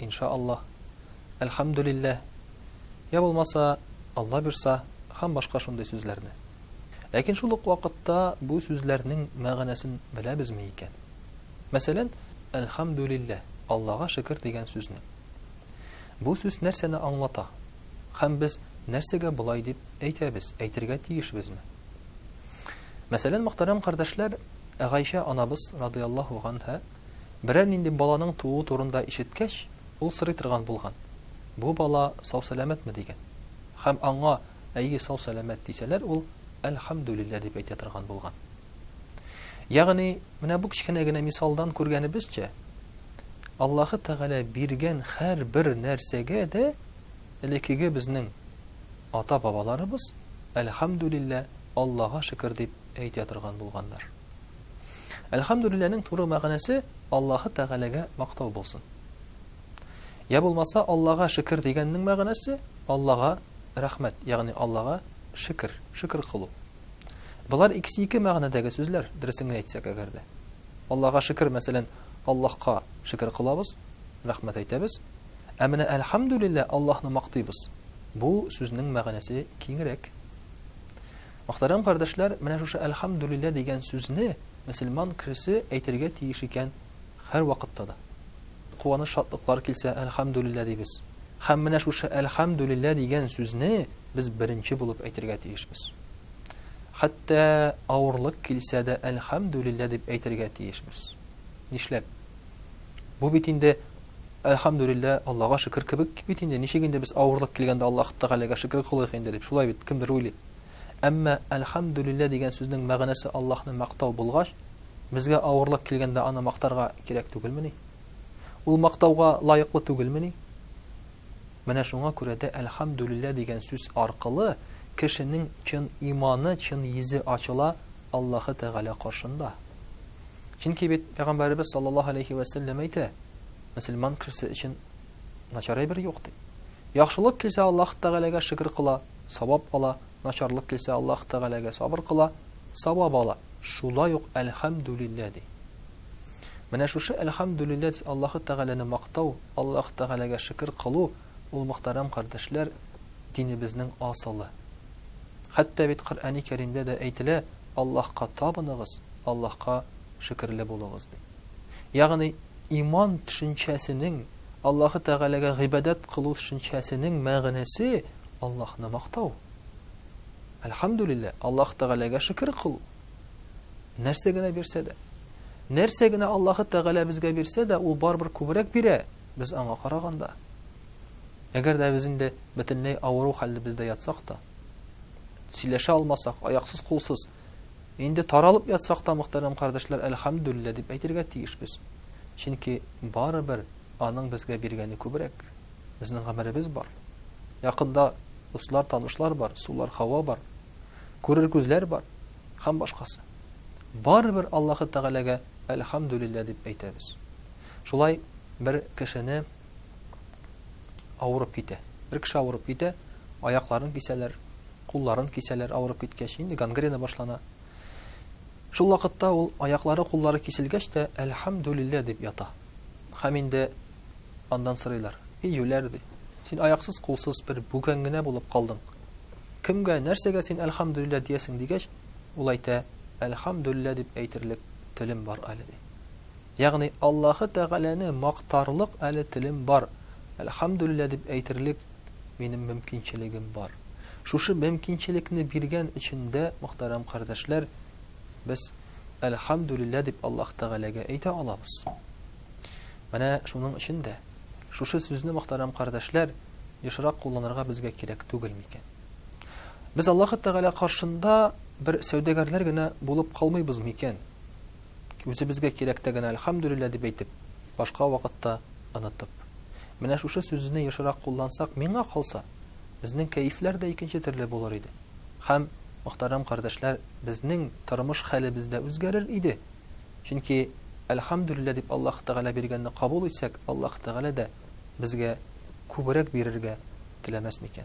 ин ша Аллаһ, әлхәмдүлилләһ, йә булмаса, Алла бирса, һәм башка шундый сүзләрне. Ләкин шул ук вакытта бу сүзләрнең мәгънәсен беләбезме икән? Мәсәлән, әлхәмдүлилләһ, Аллага шөкер дигән сүзне. Бу сүз нәрсәне аңлата? Һәм без нәрсәгә болай дип әйтәбез, әйтергә тиешбезме? Мәсәлән, мөхтәрәм кардәшләр, Гайшә анабыз радыяллаһу ганһа Берәр нинди баланың тууы турында ишеткәч, ул сорый торган булган, Бу бала сау-сәламәтме? дигән. Һәм аңа, Әйе, сау-сәламәт, дисәләр, ул, Әлхәмдүлилләһ, дип әйтә торган булган. Ягъни, менә бу кечкенә генә мисалдан күргәнебезчә, Аллаһы Тәгалә биргән һәрбер нәрсәгә дә элеккеге безнең ата-бабаларыбыз, Әлхәмдүлилләһ, Аллага шөкер, дип әйтә торган булганнар. Әлхәмдүлилләнең туры мәгънәсе Аллаһы Тәгаләгә мактау булсын. Я булмаса Аллага шөкер дигәннең мәгънәсе Аллага рәхмәт, ягъни Аллага шөкер, шөкер кылу. Болар икесе ике мәгънәдәге сүзләр, дөресен генә әйтсәк әгәр дә. Аллага шөкер, мәсәлән, Аллаһка шөкер кылабыз, рәхмәт әйтәбез. Ә менә әлхәмдүлиллә Аллаһны мактыйбыз. Бу сүзнең мәгънәсе киңрәк. Мөхтәрәм кардәшләр, менә шушы Әлхәмдүлилләһ дигән сүзне мөселман кешесе әйтергә тиеш икән һәрвакытта да. Куаныч-шатлыклар килсә, Әлхәмдүлилләһ дибез. Һәм менә шушы Әлхәмдүлилләһ дигән сүзне без беренче булып әйтергә тиешбез. Хәтта авырлык килсә дә Әлхәмдүлилләһ дип әйтергә тиешбез. Нишләп? Бу бит инде Әлхәмдүлилләһ, Аллага шөкер кебек бит инде, ничек инде без авырлык килгәндә Аллаһ Тәгаләгә шөкер кылыйк инде дип, шулай бит, кемдер уйлый. Әмма Әлхәмдүлиллә дигән сүзнең мәгънәсе Аллаһны мактау булгач, безгә авырлык килгәндә аны мактарга кирәк түгелмени? Ул мактауга лаеклы түгелмени? Менә шуңа күрә дә Әлхәмдүлиллә дигән сүз аркылы кешенең чын иманы, чын йөзе ачыла Аллаһы Тәгалә каршында. Чөнки бит Пәйгамбәребез саллаллаһу алейхи вә сәлләм әйтә, мөселман кешесе өчен начар әйбер юк ди. Яхшылык килсә Аллаһ Тәгаләгә шөкер кыла, савап ала, начарлык килсә, Аллаһ Тәгаләгә сабыр кыла, савап ала, шулай ук Әлхәмдүлилләһ ди. Менә шушы Әлхәмдүлилләһ дип Аллаһ Тәгаләне мактау, Аллаһ Тәгаләгә шөкер кылу, ул, мөхтәрәм кардәшләр, динебезнең асылы. Хәтта бит Коръәни Кәримдә дә әйтелә, Аллаһка табыныгыз, Аллаһка шөкерле булыгыз, ди. Ягъни иман төшенчәсенең, Аллаһы Тәгаләгә гыйбадәт кылу төшенчәсенең мәгънәсе, Аллаһны мактау. Әлхәмдүлиллә, Аллаһы Тәгаләгә шөкер кылу. Нәрсә генә бирсә дә. Нәрсә генә Аллаһы Тәгалә безгә бирсә дә, ул барыбер күбрәк бирә, без аңа караганда. Әгәр дә без инде бөтенләй авыру хәлдә бездә ятсак та, сөйләшә алмасак, аяксыз-кулсыз, Инде таралып ятсак та, мөхтәрәм кардәшләр, әлхәмдүлилләһ дип әйтергә тиешбез. Чөнки барыбер Аның безгә биргәне күбрәк. Безнең гомеребез бар. Якында дуслар, танышлар бар, сулар, һава бар. Күрер күзләр бар. Һәм башкасы. Барыбер Аллаһы Тәгаләгә әлхәмдүлилләһ дип әйтәбез. Шулай бер кешене, авырып китә. Бер кеше авырып китә, аякларын кисәләр, кулларын кисәләр авырып киткәч, инде гангрена башлана. Шул вакытта ул аяклары, куллары киселгәч тә, әлхәмдүлиллә дип ята. Хәм инде андан сырыйлар. И юләр ди. Син аяксыз, кулсыз бер бүгән генә булып калдың. Кемгә, нәрсәгә син әлхәмдүлиллә диясең дигәч, ул әйтә, әлхәмдүлиллә дип әйтерлек телем бар әле ди. Ягъни, Аллаһы Тәгаләне мактарлык әле телем бар, әлхәмдүлилләһ дип әйтерлек минем мөмкинчелегем бар. Шушы мөмкинчелекне биргән өчен дә, мөхтәрәм кардәшләр, без әлхәмдүлилләһ дип Аллаһ Тәгаләгә әйтә алабыз. Менә шуның өчен дә шушы сүзне, мөхтәрәм кардәшләр, ешрак кулланырга безгә кирәк түгел микән? Без Аллаһы Тәгалә каршында бер сәүдәгәрләр генә булып калмыйбыз микән? Үзебезгә кирәктә генә Әлхәмдүлилләһ дип әйтеп, башка вакытта онытып. Менә шушы сүзне ешрак куллансак, миңа калса, безнең кәефләр дә икенче төрле булыр иде. Һәм, мөхтәрәм кардәшләр, безнең тормыш хәлебез дә үзгәрер иде. Чөнки, Әлхәмдүлилләһ дип Аллаһ Тәгалә биргәнне кабул итсәк, Аллаһ Тәгалә дә безгә күбрәк бирергә теләмәс микән?